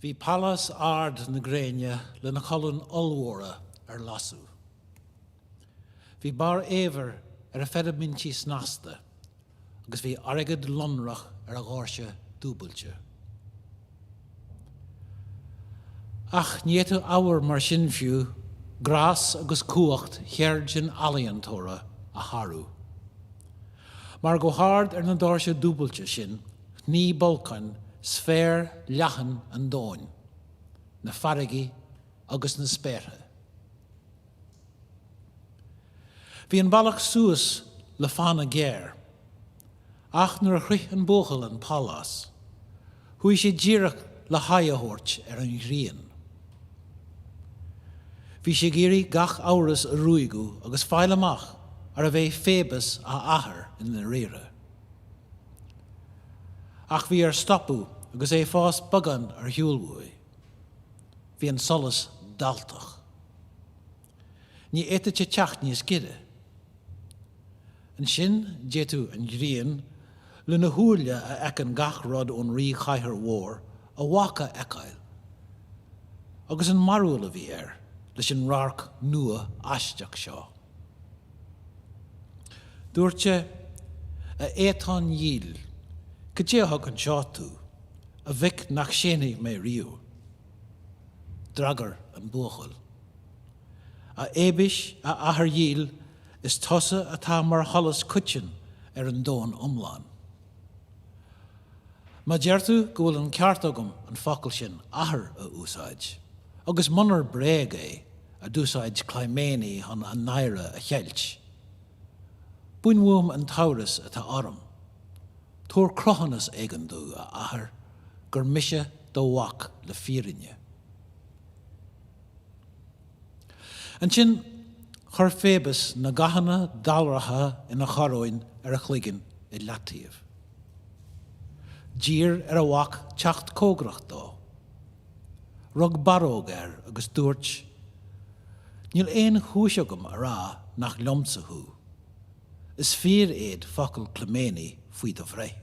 Bhí Pálás Ard na Gréine lena cholúin ollmhóra ar lasadh. Bhí barr eabhair ar a pheidimintí snasta agus bhí airgead lonrach ar a dhoirse dúbailte. Ach ní fhéadfadh ábhar mar sin fiú grás agus cumhacht cheird an ealaíontóra a shárú. Mar go hard ar na doirse dúbailte sin shnoigh Bolcán sféar leathan an domhain, na farraigí agus na spéartha. Bhí an bealach suas le fána géar, ach nuair a shroich an buachaill an pálás, Chuaigh sé díreach le haghaidh a thabhairt ar an ghrian. Bhí sé ag iarraidh gach amhras a ruaigeadh agus fáil amach arbh é Phoebus a athair i ndáiríre. Ach bhí air stopadh agus é fós beagán ar shiúl uaidh. Bhí an solas dalltach. Ní fhéadfadh sé teacht níos gaire. Ansin, d'fhéadfadh an ghrian lena shúile a fheiceann gach rud ón ríchathaoir mhór a mhac a fheiceáil, agus an mearbhall a bhí air leis an radharc nua aisteach seo. Dúirt sé, A Fhéatáin dhíl, cad é a thug anseo tú, a mhic nach séanfaidh mé riamh? D'fhreagair an buachaill, A Fhéabais, a athair dhíl, Is tusa atá mar sholas coiteann ar an domhan iomlán. Má deir tú go bhfuil an ceart agam an focal sin 'Athair' a úsáid, agus munar bréag é, a d'úsáid Clymene chun a náire a cheilt, bain uaim an t-amhras atá orm. Tabhair cruthúnas éigin domh, a Athair, gur mise do mhac le fírinne. Ansin, chuir Phoebus na gathanna dallraithe ina choróin ar a chloigeann i leataobh. D'iarr ar a mhac teacht comhgarach dó. Rug barróg air agus dúirt, Níl aon chúis agam a rá nach liomsa thú. Is fíor iad focail Clymene faoi do bhreith.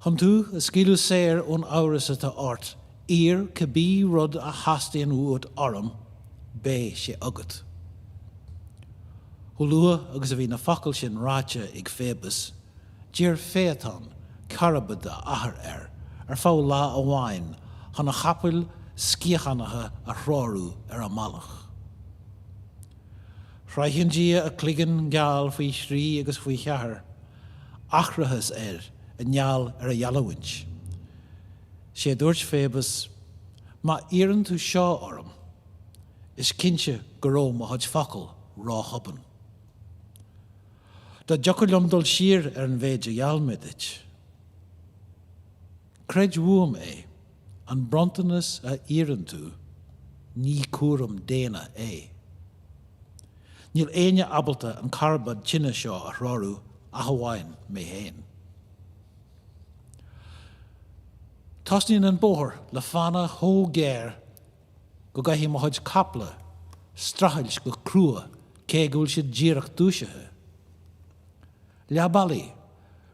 Chun tú a scaoileadh saor ón amhras atá ort, iarr cibé rud a theastaíonn uait orm, beidh sé agat. Chomh luath agus a bhí na focail sin ráite ag Phoebus, d'iarr Féatán, carbad a athar, air ar feadh lá amháin chun a chapaill sciathánaithe a threorú ar a mbealach. Chroith an dia a chloigeann geal faoi thrí agus faoi cheathair, aithreachas air i ngeall ar a gheallúint. 'Sé a dúirt Faebas, Má iarrann tú seo orm, is cinnte go raibh mo chuid focal ró-thobann. Dá dtiocfadh liom dul siar ar an mhéid a gheall mé duit. Creid uaim é, an bronntanas a iarrann tú, ní cúram daonna é. Níl éinne abalta an carbad tine seo a threorú ach amháin mé féin. Tosnaíonn an bóthar le fána chomh géar go gcaithfidh mo chuid caiple strachailt go crua cé go bhfuil siad díreach dúisithe. Leath bealaigh.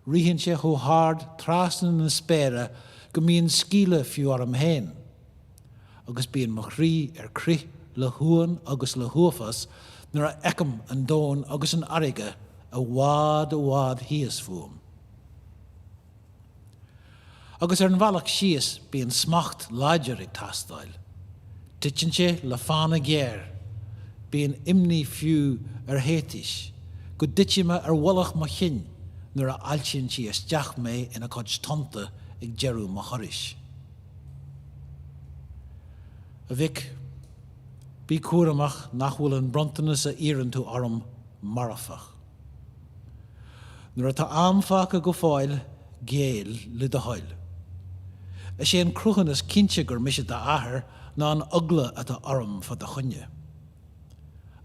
Ritheann sé chomh hard trasna na spéire go mbíonn sceimhle fiú orm féin. Agus bíonn mo chroí ar crith le huamhan agus le huafás nuair a fheicim an domhan agus an fharraige i bhfad i bhfad thíos fúm. Agus ar an bhealach síos bíonn smacht láidir ag teastáil. Titeann sé le fána ghéar. Bíonn imní fiú ar Théitis, go dtitfidh mé ar mhullach mo chinn nuair a fháiltíonn sí isteach mé ina cuid tonnta ag deireadh mo thurais. A mhic, bí cúramach nach bhfuil an bronntanas a iarrann tú orm marfach. Nuair atá am fágtha go fóill, géill le do thoil. Is é an cruthúnas is cinnte gur mise d'athair ná an eagla atá orm fá do choinne.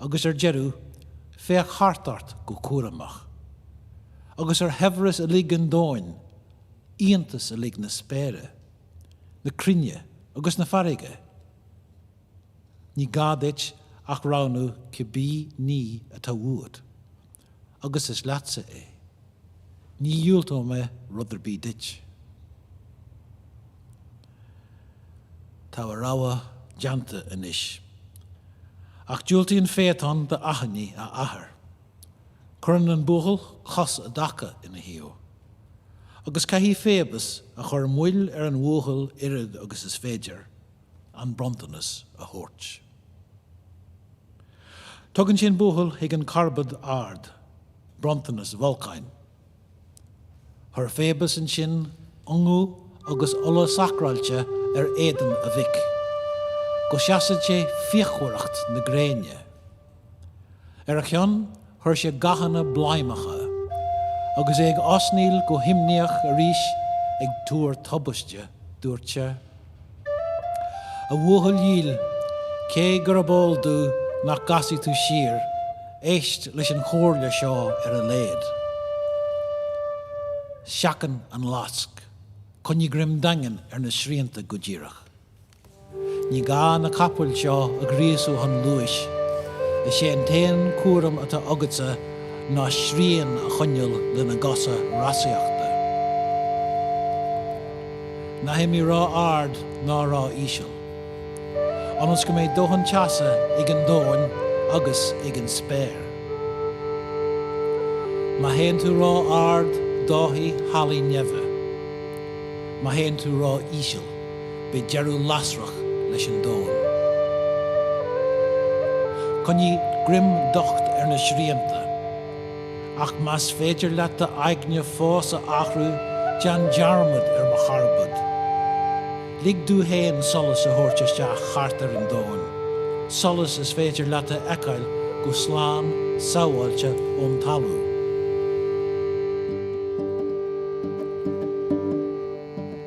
Agus ar deireadh, féach thart ort go cúramach. Agus ar shaibhreas uilig an domhain, iontas uilig na spéire, na cruinne agus na farraige. Ní gá duit ach roghnú cibé ní atá uait, agus is leatsa é. Ní dhiúltóidh mé rud ar bith duit. Tá a rogha déanta anois. Ach diúltaíonn Faetán d'achainí a athar. Cuireann an buachaill cos i dtaca ina thaobh. Agus caithfidh Faebas, ag cur moill ar an bhuachaill oiread agus is féidir. an bronntanas a thabhairt. Tugann sé an buachaill chuig an charbad ard, bronntanas Bholcáin. Chuir Faebas ansin ungadh agus ola sacráilte ar éadan a mhic, go seasfaidh sé fíochmhaireacht na gréine. Ar a chionn, chuir sé gathanna bladhmacha, agus é ag osnaíl go himníoch arís ag tuar tubaiste, dúirt sé, A bhuachaill dhil, cé gurb eol domh nach gcasfaidh tú siar, éist leis an chomhairle seo ar a laghad. Seachain an lasc. Coinnigh greim daingean ar na srianta go díreach. Ní gá na capaill seo a ghríosú chun luais. Is é an t-aon chúram atá agatsa ná srian a choinneáil lena gcosa rásaíochta. Ná himigh ró-ard ná ró-íseal. Ionas go mbeidh dóthain teasa ag an domhain agus ag an spéir. Má théann tú ró-ard, dófaidh hallaí neimhe. Má théann tú ró-íseal. beidh deireadh lasrach leis an domhan. Coinnigh greim docht ar na srianta, ach más féidir leat d'aigne fós a athrú, déan dearmad ar mo charbad. Lig domh féin solas a thabhairt isteach thart ar an domhan, solas is féidir leat a fheiceáil go slán sabháilte ón talamh.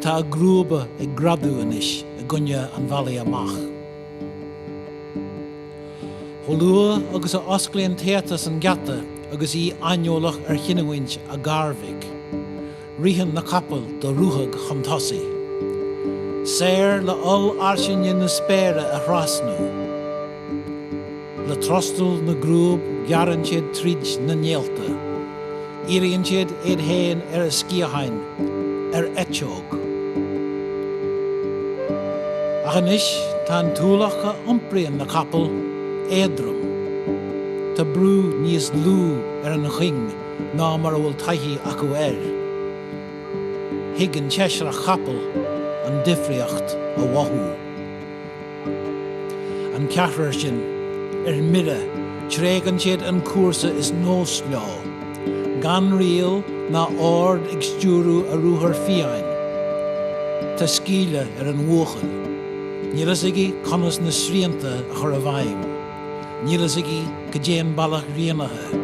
Tá a gcrúba ag greadadh anois i gcoinne an bhealaigh amach. Chomh luath agus a osclaíonn Téatas an geata agus í aineolach ar chinniúint a gharmhic, ritheann na capaill do ruthag chun tosaigh, saor le hollfhairsinge na spéire a thrasnú. Le trostal na gcrúb gearrann siad tríd na néalta. Éiríonn siad iad féin ar a sciatháin, ar eiteog. Ach anois tá an t-ualach a iompraíonn na capaill éadrom. Tá brú níos lú ar an chuing ná mar a bhfuil taithí acu air. Thig an tseisreach capall an difríocht a mhothú. an ceathrar sin ar mire tréigeann siad an cúrsa is nós leo, gan riail ná ord ag stiúrú a ruathar fiáin. Tá scaoll ar an bhuachaill. Níl fhios aige conas na srianta a chur i bhfeidhm. Níl fhios aige cá dtéann bealach rianaithe.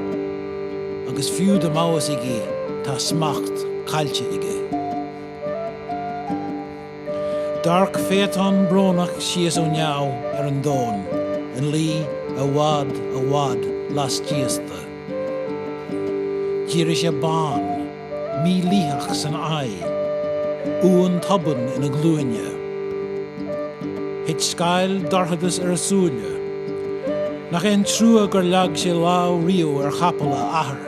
Agus fiú dá mbeadh fhios aige, tá smacht caillte aige. D'amharc Phaethon brónach síos ó neamh ar an domhan ina luí i bhfad, i bhfad laistíos de. D'éirigh sé bán, mílítheach san aghaidh, uamhan tobann ina ghlúine. Thit scáil dorchadais ar a shúile. Nach é an trua gur leag sé lámh riamh ar chapaill a athar!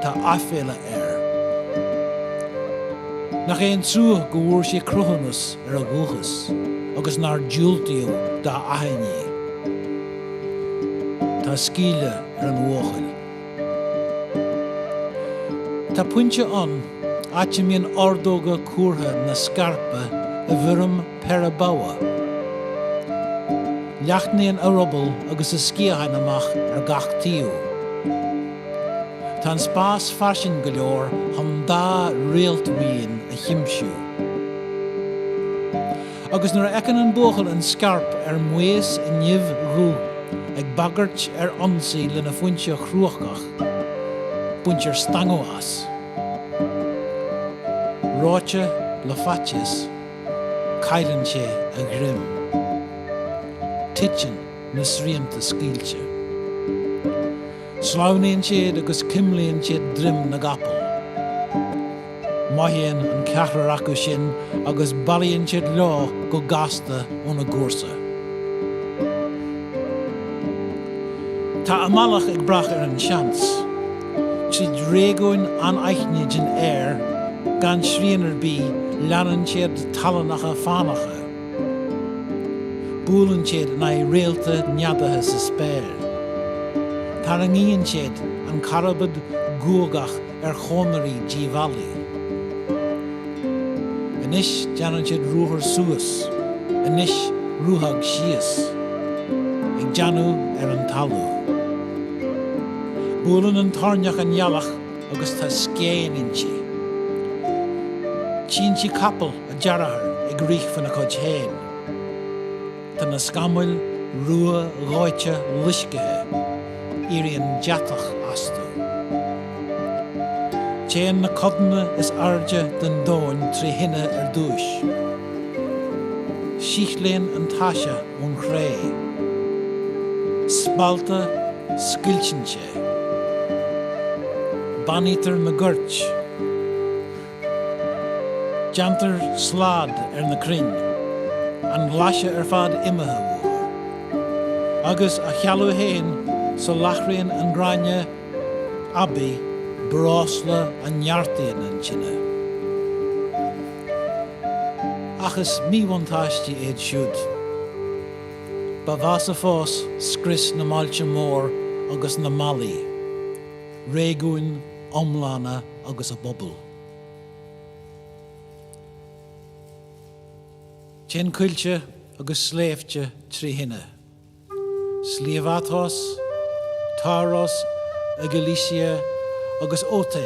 Tá aiféala air. Nach é an trua go bhfuair sé cruthúnas ar a dhúchas agus nár diúltaíodh dá achainí. Tá sceimhle ar an bhuachaill. Tá pointe ann, áit a mbíonn ordóga cuartha na scairpe i bhfoirm péire bogha. Leathnaíonn a ruball agus a sciatháin amach ar gach taobh. Tá an spás fairsing go leor chun dá réaltbhuíon a chuimsiú. Agus nuair a fheiceann an buachaill an scairp ar maos i nimh dhubh ag bagairt ar ionsaí lena phointe chrúcach, baintear stangadh as. Reoite le faitíos. Cailleann sé a ghreim. Titeann na srianta scaoilte. Sleamhnaíonn siad agus cuimlíonn siad droim na gcapall. Mothaíonn an ceathrar acu sin agus bailíonn siad leo go gasta óna gcúrsa. Tá a mbealach ag brath ar an tseans. tríd réigiúin anaithnide den aer gan srian ar bith leanann siad tallannacha fánacha, buaileann siad in aghaidh réalta neadaithe sa spéir, tarraingíonn siad an carbad guagach ar chonairí díobhálaí. Anois déanann siad ruathar suas, anois ruthag síos, ag déanamh ar an talamh. Buaileann an toirneach an ghealach agus tá scéin inti. Tchíonn sí capaill a dearthár ag rith faoina cuid féin. Tá na scamaill ruadhóite loiscthe. Éiríonn deatach astu. Téann na codanna is airde den domhan trí thine ar dtúis. Síothlaíonn an taise ón chré. Spallta. Scoilteann sé. Bánaítear na goirt. Déantar slad ar na crainn. An ghlaise ar fad imithe uathu. Agus á chealú fhéin, soláthraíonn an gráinne aibí breosla a neartaíonn an tine. Ach is míbhuntáistí iad siúd. Ba mheasa fós scrios na mbailte mór agus na mballaí, réigiúin iomlána agus a bpobail. Téann coillte agus sléibhte trí thine, Sliabh Athos, Taurus i gCilicia agus Oete,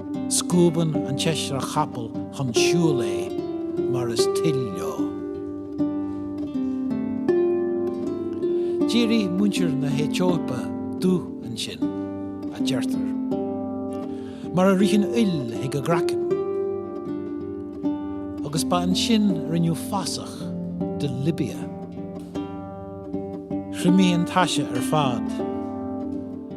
Scuabann an tseisreach chapall chun siúil é mar is toil leo. D'éirigh muintir na hAetóipe dubh ansin, a deirtear, mar a rith an fhuil chuig a gcraiceann, agus ba ansin a rinneadh fásach de Libia. Thriomaigh an taise ar fad.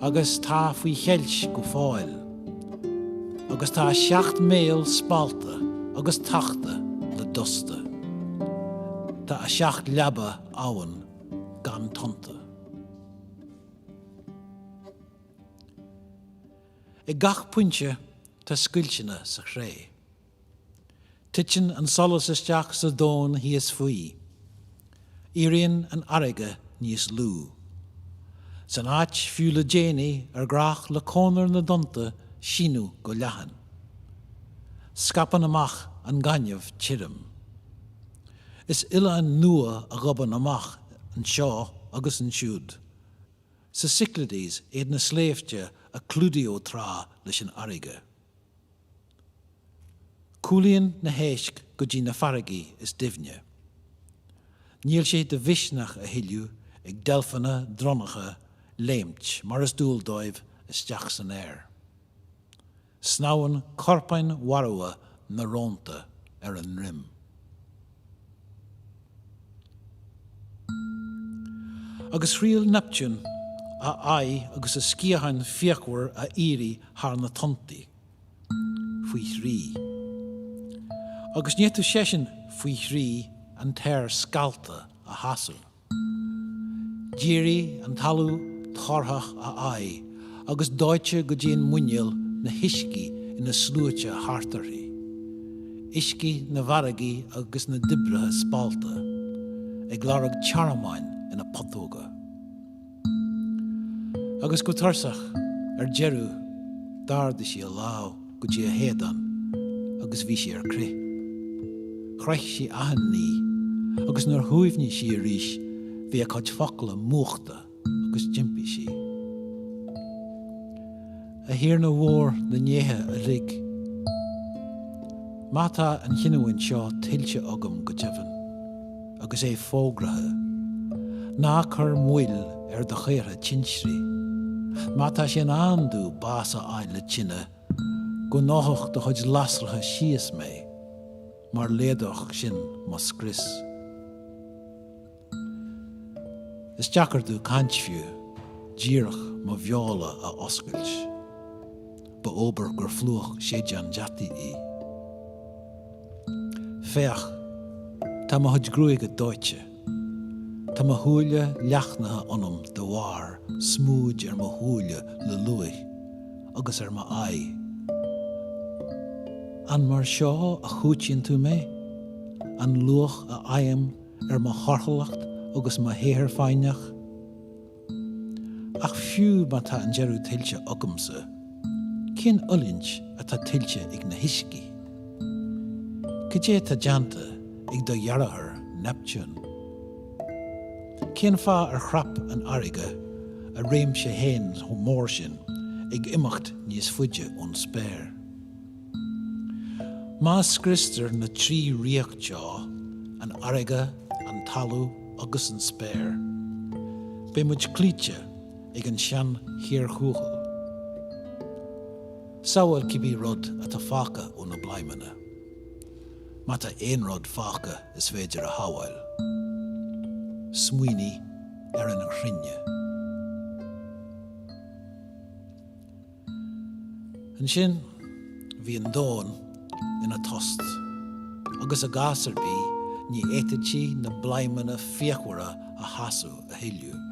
agus tá faoi cheilt go fóill, agus tá a seacht mbéal spallta agus tachta le dusta. Tá a seacht leaba abhann gan tonnta. Ag gach pointe tá scoilteanna sa chré. Titeann an solas isteach sa domhan thíos faoi. Éiríonn an fharraige níos lú. San áit fiú le déanaí ar ghnách le cónair na dtonnta síneadh go leathan, scaipeann amach an gaineamh tirim. Is oileáin nua a ghobann amach anseo agus ansiúd sa Cyclades iad na sléibhte a clúdaíodh tráth leis an fharraige. Cúlaíonn na héisc go dtí na farraigí is doimhne. Níl sé de mhisneach a thuilleadh ag deilfeanna dronnacha léimt mar is dual dóibh isteach san aer. Snámhann corpáin mharbha na rónta ar a ndroim. agus thriail Neptune a aghaidh agus a sciatháin fíochmhar a éirí thar na tonntaí. faoi thrí. Agus ní fhéadfadh seisean, faoi thrí, an t-aer scallta a sheasamh. D'éirigh an talamh torthach a haghaidh agus dóite go dtí an muineál na huiscí ina sluaite thart uirthi, uiscí na bhfarraigí agus na dtoibreacha spallta, ag lorg tearmainn ina putóga. Agus go tursach, ar deireadh, d'ardaigh sí a lámh go dtí a héadán agus bhí sí ar crith. Chroith sí achan ní, agus nuair shuaimhnigh sí arís bhí a cuid focla múchta agus d'impigh sí. A Thiarna mhór na ndéithe uilig, má tá an chinniúint seo tuillte agam go deimhin, agus é fógraithe, ná cuir moill ar do chaortha tintrí, má tá sé in am domh bás a fháil le tine, go ndófadh do chuid lasracha síos mé, mar laghdódh sin mo scrios. Is deacair domh caint fiú díreach mo bheola a oscailt. Ba fhóbair gur phlúch séideán deataí í. Féach, tá mo chuid gruaige dóite. Tá mo shúile leathchaoch ionam de bharr smúid ar mo shúile le luaith, agus ar m'aghaidh. An mar seo a chúitíonn tú mé? An luach a fhaighim ar mo thorthúlacht agus mo shaothar foighneach, ach fiú má tá an deireadh tuillte agamsa, cén fhulaingt atá tuillte ag na huiscí? Cad é tá déanta ag do dheartháir Neptune? Cén fáth ar chrap an fharraige a réimse féin chomh mór sin, ag imeacht níos faide ón spéir? Má scriostar na trí ríocht seo, an fharraige, an talamh agus an spéir, beidh muid cloíte ag an sean-chíorthuathail. Sábháil cibé rud atá fágtha ó na bladhmanna, má tá aon rud fágtha is féidir a shábháil. Smaoinigh ar an chruinne. Ansin, bhí an domhan ina thost, agus i gcás ar bith, ní fhéadfadh sí na bladhmanna fíochmhara a sheasamh a thuilleadh,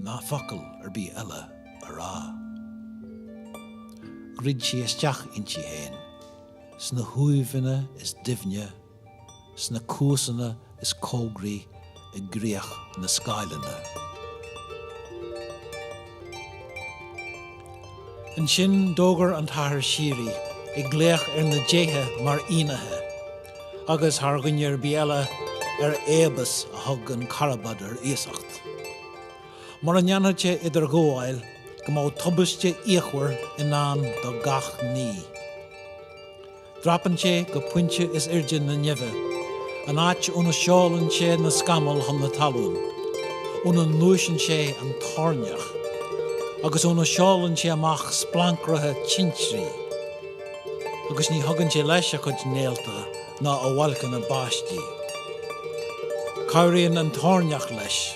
ná focal ar bith eile a rá. Dhruid sí isteach inti féin, sna huaimheanna is doimhne sna cuasa is cóngaraí do chríoch na scáileanna. Ansin d'fhógair an tAthair Síoraí, ag glaoch ar na déithe mar fhinnéithe, agus thar dhuine ar bith eile, ar Fhaebas a thug an carbad ar iasacht, mura ndéanfadh sé idirghabháil, go mbeadh tubaiste fhíochmhar i ndán do gach ní. Dreapann sé go pointe is airde na neimhe, an áit óna seolann sé na scamaill chun na talún, óna ngluaiseann sé an toirneach, agus óna seolann sé amach splancracha tintrí, agus ní thugann sé leis a chuid néalta ná a bhailceanna báistí. Cabhraíonn an toirneach leis.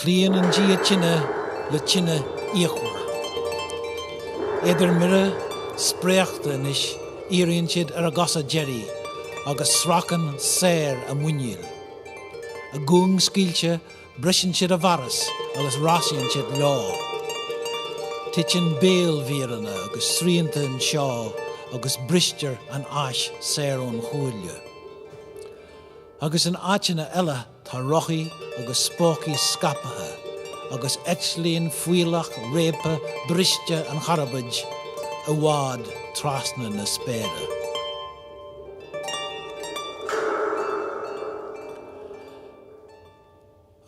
Cloíonn an dia tine le tine fhíochmhar. Iad ar mire spréachta anois éiríonn siad ar a gcosa deiridh agus sracann saor a muiníl. A gcuing scaoilte briseann siad a bhfearas agus rásaíonn siad leo. Titeann béalmhíreanna agus srianta anseo agus bristear an ais saor ón chuaille. agus in áiteanna eile tá rothaí agus spócaí scaipthe agus eitlíonn fuílleach réabtha briste an charbaid i bhfad trasna na spéire.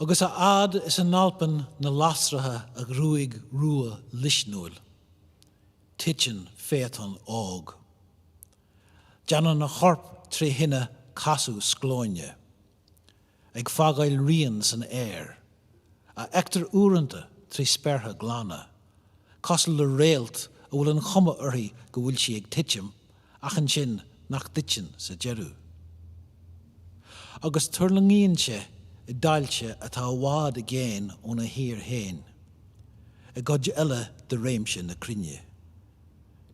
Agus a fhad is a n-alpann na lasracha a ghruaig rua luisniúil, titeann Féatán óg. Déanann a chorp trí thine casadh sclóine, ag fágáil rian san aer, a fheictear uaireanta trí spéartha glana, cosúil le réalt a bhfuil an chuma uirthi go bhfuil sí ag titim ach ansin nach dtiteann sa deireadh. Agus tuirlingíonn sé i dtailte atá i bhfad i gcéin óna thír féin, i gcuid eile de réimse na cruinne.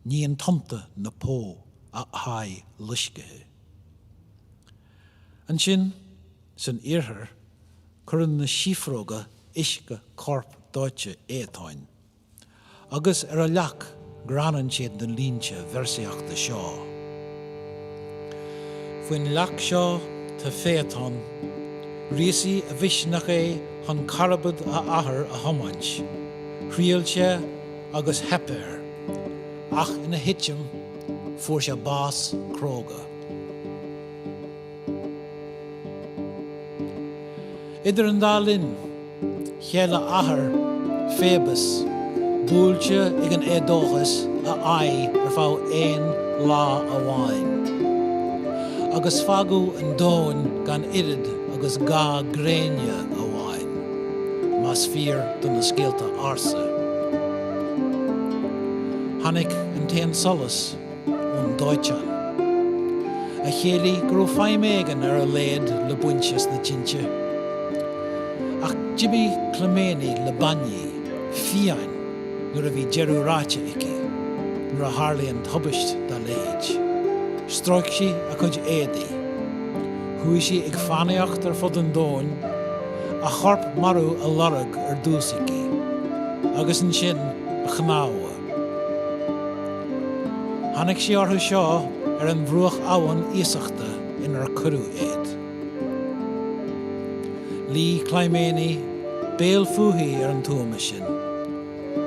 Níonn tonnta na Pó a haghaidh loiscthe. Ansin, san iarthar, cuireann na síofróga uisce corp dóite Fhéatáin, agus ar a leac greanann siad na línte véarsaíochta seo. Faoin leac seo tá Féatán, ghríosaigh a mhisneach é chun carbad a athar a thiomáint, thriail sé, agus theip air, ach ina thitim, fuair sé bás cróga. Idir an dá linn, cheil a athair, Féabas, buailte ag an éadóchas, a aghaidh ar feadh aon lá amháin, agus fágadh an domhan gan oiread agus ga gréine amháin. más fíor do na scéalta ársa. Tháinig an t-aon solas ón dóiteán. A chiallaigh go raibh feidhm éigin ar a laghad le baint as na tinte. Ach d'imigh Clymene le báiní fiáin nuair a bhí deireadh ráite aici, nuair a tharlaíonn tubaist dá leithéid. Stróic sí a cuid éadaí. Chuaigh sí ag fánaíocht ar fud an domhain, a chorp marbh á lorg ar dtús aici, agus ansin a chnámha. Tháinig sí orthu seo ar an bhruach abhann iasachta inar cuireadh iad. Luigh Clymene, béal fúithi ar an tuama sin,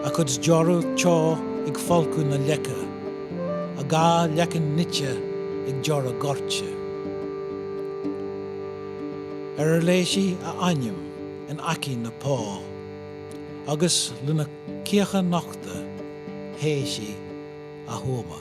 a cuid deora teo ag folcadh na leice. a dhá leiceann nite ag deora goirte. Ar ar léigh sí a ainm in aice na pá, agus lena cíocha nochta théigh sí a thuama.